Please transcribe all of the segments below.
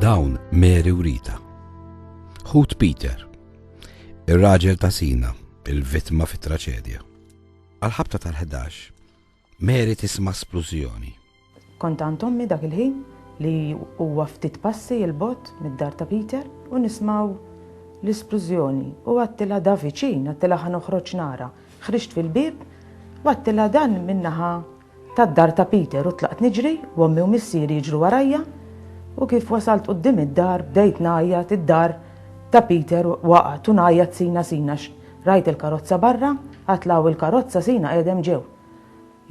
Dawn Mary u Rita. Ħut Peter, ir-raġel ta' Sina, il-vittma fit-traċedja. Għal-ħabta tal-11, Mary tisma' splużjoni. Kont għand ommi dak il-ħin li huwa ftit passi il-bot mid-dar ta' Peter u nismaw l-isplużjoni u għattila da viċin, għattila ħan uħroċ nara. Ħriġt fil-bib u għattila dan minnaħa tad-dar ta' Peter u tlaqt niġri u ommi u missieri jiġru warajja u kif wasalt quddiem id-dar bdejt ngħajjat id-dar ta' Peter waqgħet u ngħajjat Sina Sina x' rajt il-karozza barra għad law il-karozza Sina qiegħdem ġew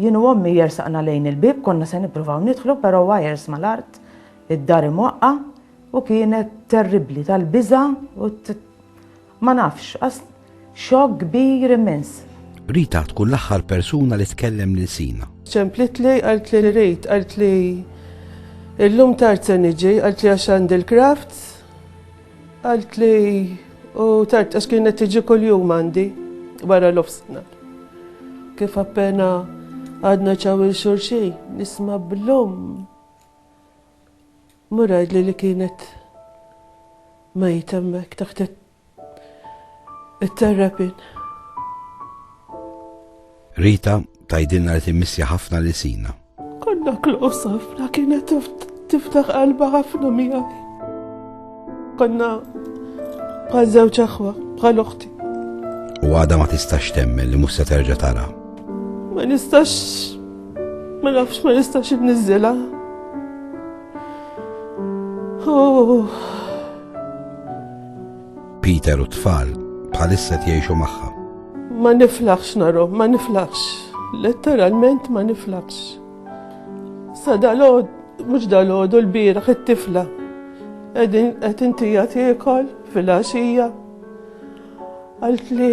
jien u ommi jersaqna lejn il-bieb konna se nippruvaw nidħlu però wires mal-art id-dar imwaqqa' u kienet terribbli tal-biża' u Ma nafx, għax xokk kbir immens. Rita tkun l-aħħar persuna li tkellem lil Sina. Ċemplitli, qaltli li rrit, qaltli illum tard se niġi, qaltli għax għandi l-crafts, qaltli u tard għax kienet tiġi kuljum għandi wara l-ofsna. Kif appena għadna ċaw il-xurxi, nisma blum. Mur għidli li kienet mejta hemmhekk taħt it-terrapin. Rita tgħidilna li timmissja ħafna lil Sina. Konna klus ħafna kienet tiftaħ qalba ħafna miegħi. Konna bħal żewġ aħwa, bħal uħti. U għada ma tistax temmen li musa terġa tara. Ma nistax Ma nafx ma nistax inniżżilha. Peter u t-tfal bħalissa qed jgħixu magħha. Ma niflaħx narhom, ma niflaħx. Letteralment ma niflaħx. Sa dalgħod, mhux dalgħod u l-bieraħ it-tifla. Qegħdin qed intija tiekol fil-għaxija. Għalt li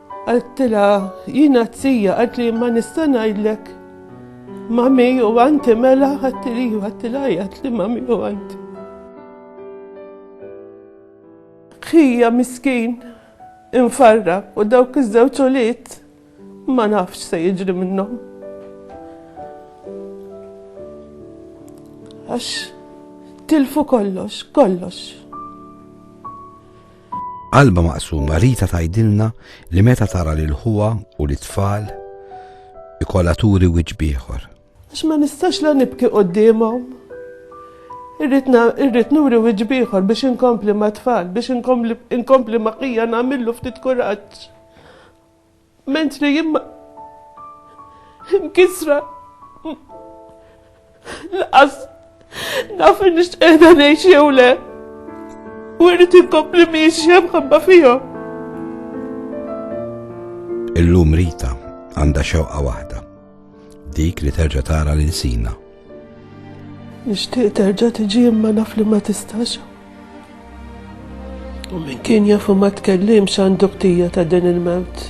Għedtilha, jiena t-tija, għedli ma nista ngħidlek mami u għanti mela għedtili ju għedtilha għedli mami u għanti. Ħija miskin, infarra u dawk iż-żewġ ulied ma nafx se jiġri minnhom. Għax tilfu kollox, kollox. B'qalbha maqsuma Rita tgħidilna li meta tara lil ħuha u lit-tfal ikollha turi wiċċ b'ieħor. Għax ma nistax la nibki quddiemhom. Irrid nuri wiċċ b'ieħor biex inkompli mat-tfal, biex inkompli ma' ħija nagħmillu ftit kuraġġ. Mentri jien ma imkisra laqas naf nix qiegħda ngħix jew le. U rrid inkompli miexja mħabba fihom. Illum Rita għandha xewqa waħda Dik li terġa' tara lil sina. Nixtieq terġa' tiġi imma naf li ma tistax. U min kien jafu ma tkellimx għandu ktija ta' din il-mewt.